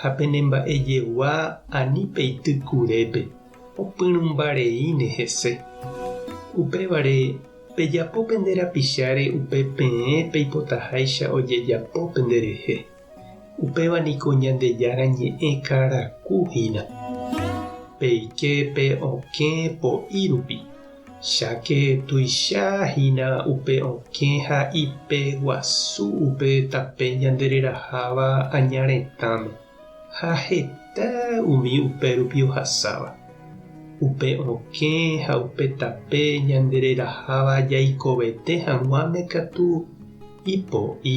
ha penemba'ejegua ani peity kurépe, opyrũmba reíne hese. Upévare, pejapo pende rapicháre upe peẽ peipotaháicha ojejapo penderehe. Upéva niko Ñandejára Ñe'ẽ karaku hína. Peike pe okẽ po'i rupi. Cháke tuicha hína upe okẽ ha ipe guasu upe tape ñande reraháva aña retãme, ha heta umi upérupi ohasáva. Upe okẽ ha upe tape ñande reraháva jaikovete hag̃uáme katu ipo'i.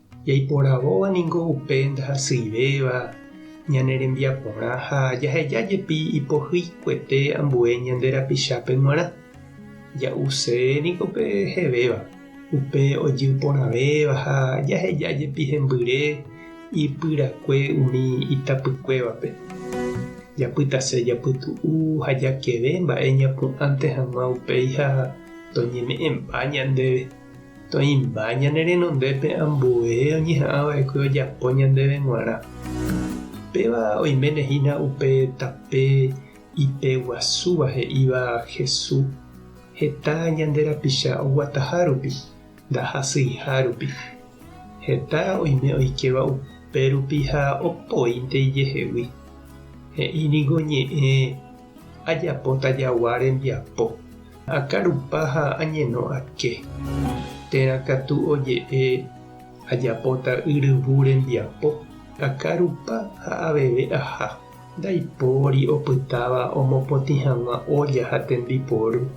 Jaiporavóva ningo upe ndahasyivéva ñane rembiaporã ha jaheja jepi ipohyikuete ambue ñande rapichápe g̃uarã. Ja'use niko pe hevéva, upe ojy porãvéva ha jaheja jepi hembyre ipyrakue umi itapykuévape. Japytase japytu'u ha jakeve mba'e ñapu'ãnte hag̃ua upéi ha toñeme'ẽmba ñandéve. Toĩmba ñane renondépe ambue oñeha'ãva'ekue ojapo ñandéve g̃uarã. Péva oiméne hína upe tape ipe guasúva he'íva Hesu, heta ñande rapicha oguataha rupi, ndahasyiha rupi. Heta oime oikéva upe rupi ha opoínte ijehegui. He'i niko ñe'ẽ, Ajapóta jagua rembiapo. Akarupa ha añeno ake. Térã katu oje'e ajapóta yryvu rembiapo. Akarupa ha aveve aha. Ndaipóri opytáva omopotĩ hag̃ua ólla ha tembiporu.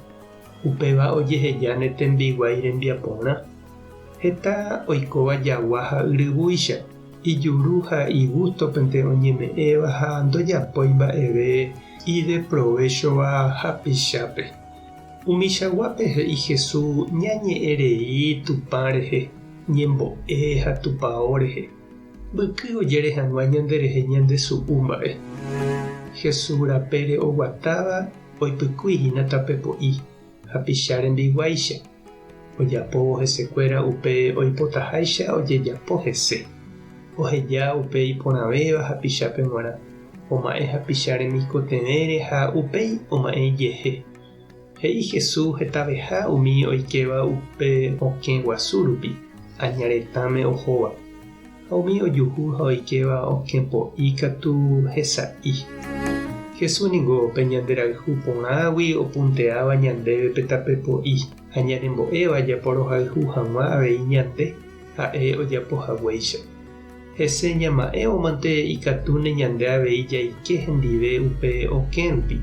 Upéva ojeheja ne tembiguái rembiaporã. Heta oikóva jagua ha yryvúicha, ijuru ha igústopente oñeme'ẽva ha ndojapói mba'eve ideprovéchova hapichápe. Umichaguápe he'i Jesús ñañe'ẽ rei Tupã rehe, ñembo'e ha tupao rehe. Mbyky ojere hag̃ua ñanderehe ñande su'u mba'e. Jesús rapére oguatáva oipykúi hína tape po'i. hapicha rembiguáicha, ojapóvo hesekuéra upe oipotaháicha ojejapo hese, oheja upe iporãvéva hapichápe g̃uarã, oma'ẽ hapicha remikotevẽre ha upéi oma'ẽ ijehe. He'i Jesús hetaveha umi oikéva upe okẽ guasu rupi, aña retãme ohóva. Ha umi ojuhu ha oikéva okẽpo'i katu hesa'i. Jesús ningo pe ñanderayhu porãgui opunteáva ñandéve pe tape po'i, ha ñanembo'éva japorohayhu hag̃ua avei ñande ha'e ojapo haguéicha. Hese ñama'ẽvomante ikatúne ñande avei jaike hendive upe okẽ rupi.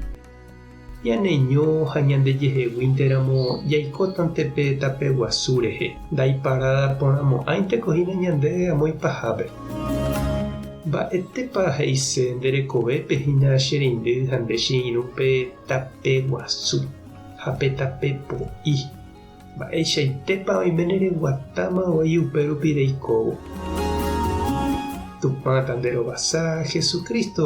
Ñaneño ha ñandejeheguínteramo jaikótante pe tape guasu rehe, ndaiparada porãmo'ãinteko hína ñande amo ipahápe. Mba'etépa he'ise nde rekovépe hína che reindy ha nde che irũ pe tape guasu ha pe tape po'i? Mba'eichaitépa oiméne reguatáma voi upérupi reikóvo? Tupãta nde rovasa, Jesucristo